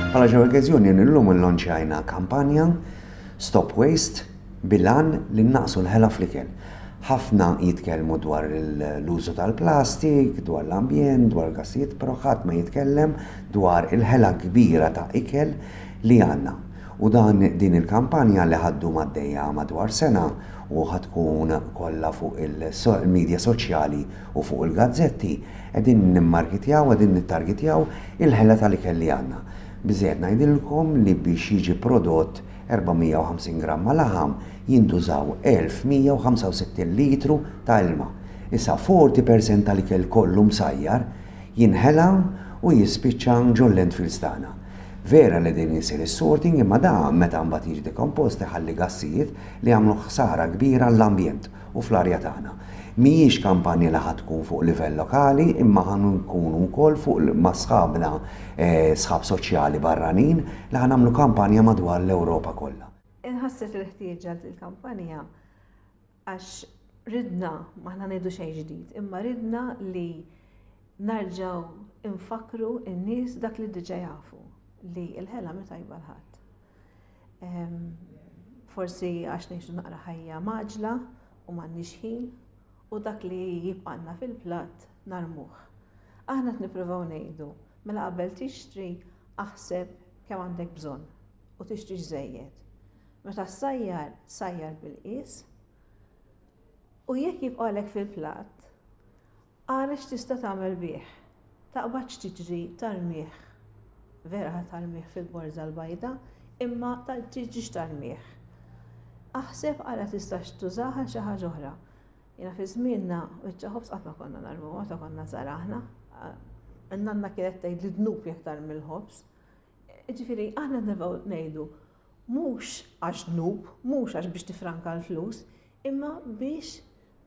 Bħala ġew okkażjoni illum illonċjajna kampanja Stop Waste bilan li naqsu l-ħela fl-ikel. Ħafna jitkellmu dwar l-użu tal-plastik, dwar l-ambjent, dwar gassijiet, però ħadd ma jitkellem dwar il-ħela kbira ta' ikel li għandna. U dan din il-kampanja li ħaddu maddejja madwar sena u ħatkun kollha fuq il-medja soċjali U fuq il-gazzetti qegħdin nimmarkitjaw, qegħdin nittargitjaw il-ħela tal-ikel li għandna. Biżżejjed ngħidilkom li biex jiġi prodott 450 gramma laħam jintużaw 1,165 litru ta' ilma. Issa 40 percent tal-ikel kollu msajjar jinħela u jispiċċa ġol-landfills tagħna. Vera li din isir is-sorting imma dan meta mbagħad jiġi dekompost iħalli gassijiet li jagħmlu ħsara kbira għall-ambjent. u fl-arja tagħna. Mhijiex kampanja li ħa tkun fuq livell lokali imma ħa nkunu wkoll fuq ma' sħabna sħab soċjali barranin li ħa nagħmlu kampanja madwar l-Ewropa kollha. Inħasset il-ħtieġa għal din il-kampanja għax ridna, m'aħna ngħidu xejn ġdid, imma ridna li narġgħu nfakkru n-nies dak li diġà jafu li l-ħela mhi tajba l-ħadd. Forsi għax ngħixu naqra ħajja maġla u m'għandniex ħin u dak li jibqanna fil-platt narmuh. Aħna qed nippruvaw ngħidu, mela qabel tixtri aħseb kemm għandek bżonn u tixtri żejjed. Meta sajjar, sajjar bil-qies u jekk jibqalek fil-platt, Ara x'tista' tagħmel bih. Taqbad x'tiġri tarmih. Vera ħa tarmih fil-borża l-bajda, imma tiġrix tarmih. Aħseb ara tistax tużah għal xi ħaġa oħra. Jiena fi żmienna biċċa ħobż qatt ma konna narmuha meta konna żgħar aħna. Nanna kienet tgħid li dnub jekk tarmi l-ħobż. Ġifieri aħna nibgħu ngħidu mhux għax dnub, mhux għax biex tifranka l-flus, imma biex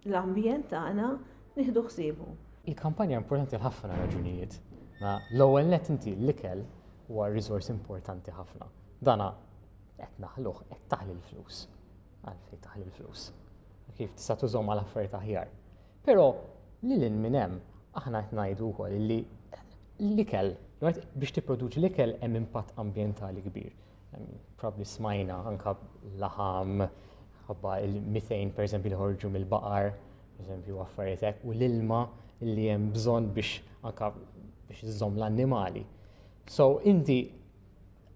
l-ambjent tagħna nieħdu ħsiebu. Il-kampanja hija importanti għal ħafna raġunijiet. L-ewwel nett inti l-ikel huwa riżors importanti ħafna. Dana qed naħluh qed taħli l-flus. Għalfejn taħli l-flus. Kif tista' tużhom għal affarijiet aħjar. Però lil hinn minn hemm aħna qed ngħidu wkoll li l-ikel, biex tipproduċi l-ikel hemm impatt ambjentali kbir. Probabbli smajna anke laħam ħabba il-methane pereżempju li ħorġu mill-baqar, pereżempju affarijiet hekk, u l-ilma li hemm bżonn biex anke biex iżżomm l-annimali. So inti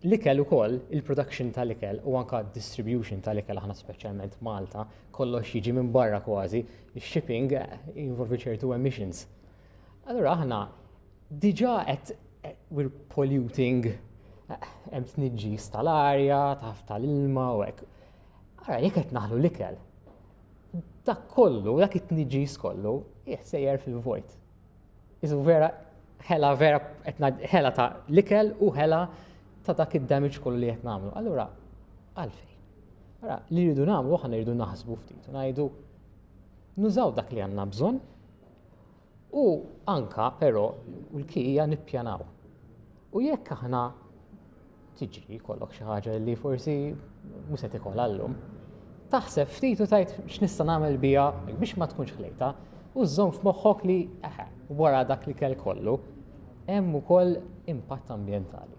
l-ikel ukoll, il-production tal-ikel u anke distribution tal-ikel aħna speċjalment Malta, kollox jiġi minn barra kważi, shipping jinvolvi ċertu emissions. Allura aħna Diġà qed we're polluting hemm tniġġis tal-arja, taf tal-ilma u hekk. Ara jekk qed naħlu l-ikel. Dak kollu, dak it-tniġġis kollu, sejjer fil-vojt. Iżu vera ħela vera ħela ta' l-ikel u ħela ta' dak id-damage kollu li qed nagħmlu. Allura għalfejn. Ara li rridu nagħmlu aħna rridu naħsbu ftit u ngħidu nużaw dak li għandna bżonn U anka però l-key hija nippjanaw. U jekk aħna tiġi kollok xi ħaġa li forsi mhux se tikol għallum, taħseb ftit u tajt x'nista' nagħmel biha biex ma tkunx ħlejta u żżomm f'moħħok li wara dak li kell kollu hemm ukoll impatt ambjentali.